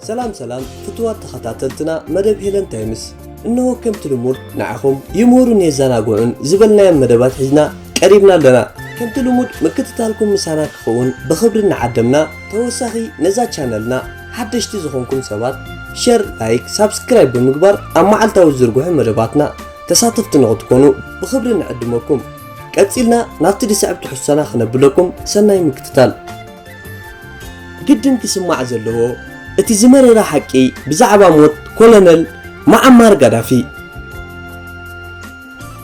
ሰላም ሰላም ፍትዋት ተኸታተልትና መደብ ሄለን ታይምስ እነሆ ከምቲ ልሙድ ንዓኹም ይምህሩን የዘናግዑን ዝበልናዮም መደባት ሒዝና ቀሪብና ኣለና ከምቲ ልሙድ ምክትታልኩም ምሳና ክኸውን ብኽብሪ እናዓደምና ተወሳኺ ነዛ ቻነልና ሓደሽቲ ዝኾንኩም ሰባት ሸር ላይክ ሳብስክራይብ ብምግባር ኣብ መዓልታዊ ዝርግሑ መደባትና ተሳተፍቲ ንኽትኮኑ ብኽብሪ ንዕድመኩም። ቀጺልና ናብቲ ዝስዕብ ትሕዝቶና ክነብለኩም ሰናይ ምክትታል። ግድን ክስማዕ ዘለዎ እቲ ዝመረረ ሓቂ ብዛዕባ ሞት ኮለነል መዓማር ጋዳፊ።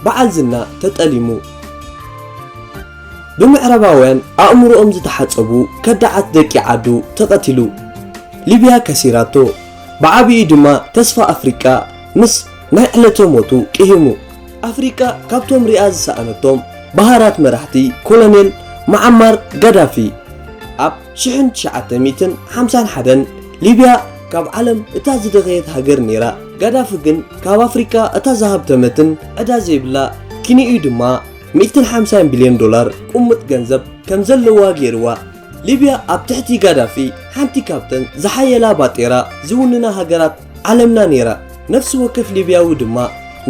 በዓል ዝና ተጠሊሙ። ብምዕራባውያን ኣእምሮኦም ዝተሓጸቡ ከዳዓት ደቂ ዓዱ ተቐቲሉ። ሊብያ ከሲራቶ። ብዓቢኡ ድማ ተስፋ ኣፍሪቃ ምስ ናይ ዕለተ ሞቱ ቅሂሙ። ኣፍሪቃ ካብቶም ሪኣ ዝሰኣነቶም በሃራት መራሕቲ ኮሎኔል መዓማር ጋዳፊ ኣብ ሽሕን ትሽዓተ ሚእትን ሓምሳን ሓደን ሊብያ ካብ ዓለም እታ ዝደኸየት ሃገር ኔራ ጋዳፊ ግን ካብ ኣፍሪቃ እታ ዝሃብተመትን ዕዳ ዘይብላ ኪንኡ ድማ ሚእትን ሓምሳን ቢልዮን ዶላር ቁሙጥ ገንዘብ ከም ዘለዋ ጌርዋ ሊብያ ኣብ ትሕቲ ጋዳፊ ሓንቲ ካብተን ዝሓየላ ባጤራ ዝውንና ሃገራት ዓለምና ነይራ፣ ነፍሲ ወከፍ ሊብያዊ ድማ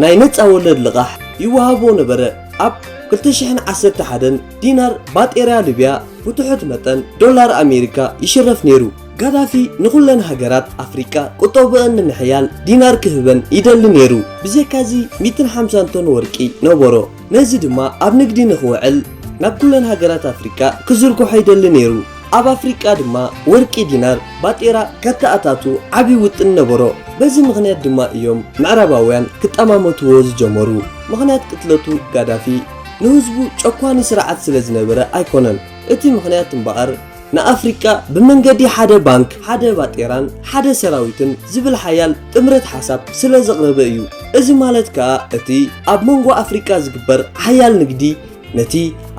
ናይ ነጻ ወለድ ልቓሕ ይወሃቦ ነበረ። ኣብ ክልተ ሽሕን ዓሰርተ ሓደን ዲናር ባጤርያ ሊብያ ብትሑት መጠን ዶላር ኣሜሪካ ይሽረፍ ነይሩ። ጋዳፊ ንኹለን ሃገራት ኣፍሪቃ ቁጠብኦን ንምሕያል ዲናር ክህበን ይደሊ ነይሩ። ብዘይካዚ ሚእትን ሓምሳን ቶን ወርቂ ነበሮ። ነዚ ድማ ኣብ ንግዲ ንኽውዕል ናብ ኩለን ሃገራት ኣፍሪቃ ክዝርግሖ ይደሊ ነይሩ። ኣብ ኣፍሪቃ ድማ ወርቂ ዲናር፣ ባጤራ፣ ከተኣታቱ ዓቢ ውጥን ነበሮ። በዚ ምኽንያት ድማ እዮም ምዕራባውያን ክጠማመትዎ ዝጀመሩ። ምኽንያት ቅትለቱ ጋዳፊ ንህዝቡ ጨኳኒ ስርዓት ስለ ዝነበረ ኣይኮነን። እቲ ምኽንያት እምበኣር ንኣፍሪቃ ብመንገዲ ሓደ ባንክ፣ ሓደ ባጤራን ሓደ ሰራዊትን ዝብል ሓያል ጥምረት ሓሳብ ስለ ዘቕረበ እዩ። እዚ ማለት ከኣ እቲ ኣብ መንጎ ኣፍሪቃ ዝግበር ሓያል ንግዲ ነቲ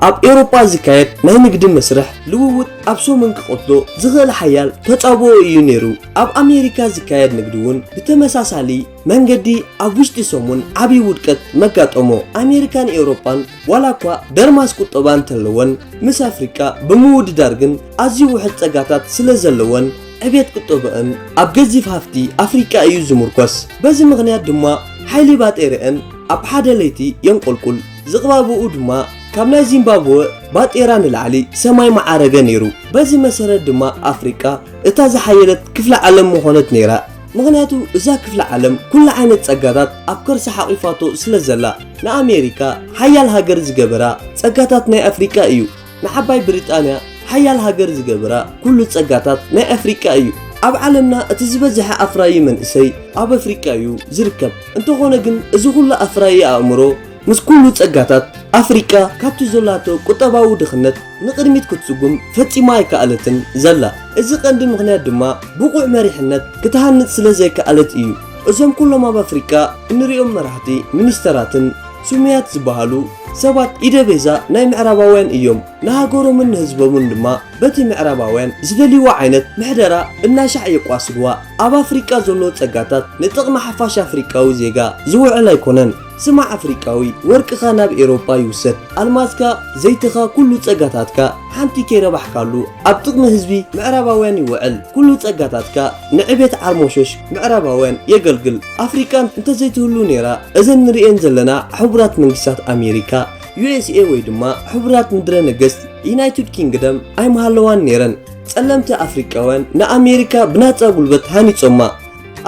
ኣብ ኤውሮጳ ዝካየድ ናይ ንግዲ መስርሕ ልውውጥ ኣብ ሰሙን ክቐትሎ ዝኽእል ሓያል ተጻብኦ እዩ ነይሩ። ኣብ ኣሜሪካ ዝካየድ ንግዲ እውን ብተመሳሳሊ መንገዲ ኣብ ውሽጢ ሰሙን ዓብዪ ውድቀት መጋጠሞ። ኣሜሪካን ኤውሮጳን ዋላ እኳ ደርማስ ቁጠባ እንተለወን፣ ምስ ኣፍሪቃ ብምውድዳር ግን ኣዝዩ ውሑድ ጸጋታት ስለ ዘለወን ዕብየት ቁጠበኣን ኣብ ገዚፍ ሃፍቲ ኣፍሪቃ እዩ ዝምርኮስ። በዚ ምኽንያት ድማ ሓይሊ ባጤረኣን ኣብ ሓደ ለይቲ የንቆልቁል። ዝቕባበኡ ድማ ካብ ናይ ዚምባብወ ባጤራ ንላዕሊ ሰማይ ምዓረገ ነይሩ። በዚ መሰረት ድማ ኣፍሪቃ እታ ዝሓየለት ክፍለ ዓለም ምኾነት ነይራ። ምኽንያቱ እዛ ክፍለ ዓለም ኩሉ ዓይነት ጸጋታት ኣብ ከርሳ ሓቂፋቶ ስለ ዘላ። ንኣሜሪካ ሓያል ሃገር ዝገበራ ጸጋታት ናይ ኣፍሪቃ እዩ። ንዓባይ ብሪጣንያ ሓያል ሃገር ዝገበራ ኩሉ ጸጋታት ናይ ኣፍሪቃ እዩ። ኣብ ዓለምና እቲ ዝበዝሐ ኣፍራዪ መንእሰይ ኣብ ኣፍሪቃ እዩ ዝርከብ። እንተኾነ ግን እዚ ኩሉ ኣፍራዪ ኣእምሮ፣ ምስ ኩሉ ጸጋታት፣ ኣፍሪቃ ካብቲ ዘላቶ ቁጠባዊ ድኽነት ንቕድሚት ክትስጉም ፈጺማ ኣይከኣለትን ዘላ። እዚ ቀንዲ ምኽንያት ድማ ብቑዕ መሪሕነት ክትሃንጽ ስለ ዘይከኣለት እዩ። እዞም ኩሎም ኣብ ኣፍሪቃ እንርእዮም መራሕቲ ሚኒስተራትን ስሙያት ዝበሃሉ ሰባት ኢደ ቤዛ ናይ ምዕራባውያን እዮም። ንሃገሮምን ንህዝቦምን ድማ በቲ ምዕራባውያን ዝደልይዎ ዓይነት ምሕደራ እናሻዕ የቋስልዋ። ኣብ ኣፍሪቃ ዘሎ ጸጋታት ንጥቕሚ ሓፋሽ ኣፍሪቃዊ ዜጋ ዝውዕል ኣይኮነን። ስማዕ ኣፍሪቃዊ ወርቅኻ ናብ ኤሮጳ ይውሰድ ኣልማዝካ ዘይትኻ ኩሉ ጸጋታትካ ሓንቲ ከይረባሕካሉ ኣብ ጥቕሚ ህዝቢ ምዕራባውያን ይውዕል ኩሉ ጸጋታትካ ንዕቤት ዓርሞሸሽ ምዕራባውያን የገልግል ኣፍሪቃን እንተዘይትህሉ ነይራ እዘን ንርእየን ዘለና ሕቡራት መንግስታት ኣሜሪካ USA ወይ ድማ ሕቡራት ምድረ ነገስት ዩናይትድ ኪንግደም ኣይምሃለዋን ነይረን ጸለምቲ ኣፍሪቃውያን ንኣሜሪካ ብናጻ ጉልበት ሃኒጾማ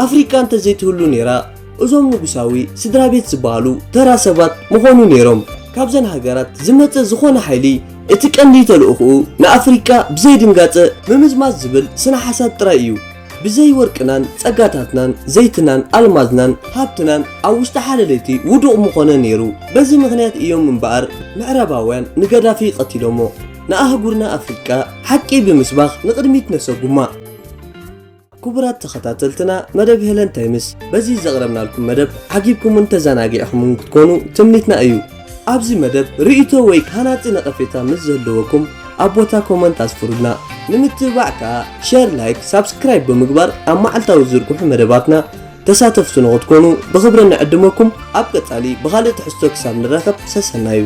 ኣፍሪቃ እንተዘይትህሉ ነይራ እዞም ንጉሳዊ ስድራቤት ዝበሃሉ ተራ ሰባት ምኾኑ ነይሮም። ካብዘን ሃገራት ዝመጸ ዝኾነ ሓይሊ እቲ ቀንዲ ተልእኹኡ ንኣፍሪቃ ብዘይድንጋጸ ምምዝማዝ ዝብል ስነ ሓሳብ ጥራይ እዩ። ብዘይ ወርቅናን ጸጋታትናን ዘይትናን ኣልማዝናን ሃብትናን ኣብ ውሽጢ ሓደ ለይቲ ውዱቕ ምኾነ ነይሩ። በዚ ምኽንያት እዮም እምበኣር ምዕራባውያን ንገዳፊ ቀቲሎሞ። ንኣህጉርና ኣፍሪቃ ሓቂ ብምስባኽ ንቕድሚት ነሰጉማ። ክቡራት ተኸታተልትና መደብ ሄለን ታይምስ በዚ ዘቕረብናልኩም መደብ ዓጊብኩምን ተዘናጊዕኹምን ክትኮኑ ትምኒትና እዩ። ኣብዚ መደብ ርእይቶ ወይ ሃናጺ ነቐፌታ ምስ ዝህልወኩም ኣብ ቦታ ኮመንት ኣስፍሩልና። ንምትብባዕ ከኣ ሸር፣ ላይክ፣ ሳብስክራይብ ብምግባር ኣብ መዓልታዊ ዝዝርግሑ መደባትና ተሳተፍቲ ንኽትኮኑ ብኽብሪ ንዕድመኩም። ኣብ ቀጻሊ ብኻልእ ትሕዝቶ ክሳብ ንራኸብ ሰሰናዩ።